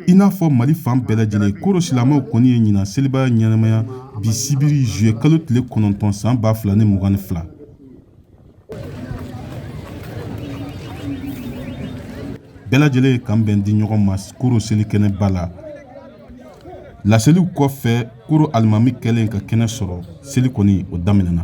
i n'a fɔ mali fan bɛɛ lajɛlen koro silamɛw kɔni ye ɲinan seliba ɲɛnamaya bi sibiri zuye kalo tile kɔnɔntɔn san ba fila ni mugan ni fila bɛɛ lajɛlen ye kan bɛn di ɲɔgɔn ma koro seli kɛnɛ ba la laseliw kɔfɛ koro alimami kɛlen ka kɛnɛ sɔrɔ seli kɔni o daminɛna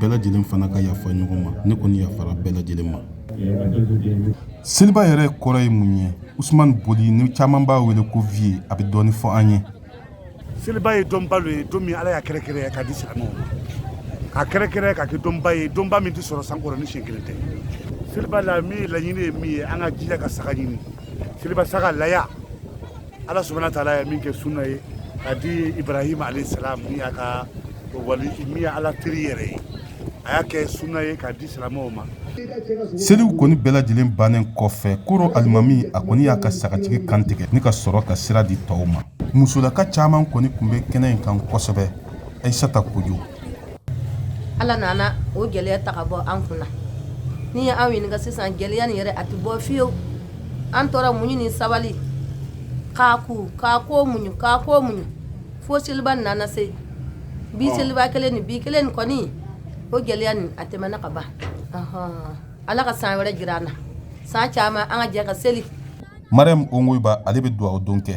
bɛɛ lajɛlen fana ka yafa ɲɔgɔn ma ne kɔni yafara bɛɛ lajɛlen ma seliba yɛrɛ kɔrɔ ye mun ye usman boli ni caman b'a wele ko vieux a bɛ dɔɔni fɔ an ye seliba ye donba ye don min ala y'a kɛrɛkɛrɛ ka di silamɛw ma k'a kɛrɛkɛrɛ ka kɛ donba ye donba min tɛ sɔrɔ san kɔnɔ ni siɲɛ kelen tɛ seliba la min ye laɲini ye min ye an ka jija ka saga ɲini seliba saga laya ala subhanahu wa taala ye min kɛ sunna ye ka di ibrahima alayhi salam min y'a ka wali min ye ala teri yɛrɛ ye a y'a kɛ sunna ye k'a di silamɛw ma seliw kɔni bɛɛ lajɛlen bannen kɔfɛ koro alimami a kɔni y'a ka sagajigi kan tigɛ ni ka sɔrɔ ka sira di tɔw ma musolaka caman kɔni tun bɛ kɛnɛ in kan kosɛbɛ ayisata kojo Ala nana o gɛlɛya ta ka bɔ an kunna n'i ye anw ɲininka sisan gɛlɛya nin yɛrɛ a tɛ bɔ fiyewu an tora muɲu ni sabali ka ko ka ko muɲu ka ko muɲu fo seliba nana se bi seliba kelen ni bi kelen ni kɔni o gɛlɛya nin a tɛmɛna ka ban ala ka san wɛrɛ jira an na san caman an ka jɛ ka seli mariamu ongoyiba ale bɛ dugawu don kɛ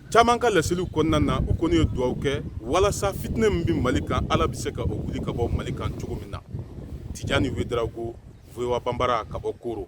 caman ka laseliw kɔnɔna na u kɔni ye dugawu kɛ walasa fitinɛ min bɛ mali kan ala bɛ se ka o wuli ka bɔ mali kan cogo min na tijani wedarawogo voa banbara ka bɔ koro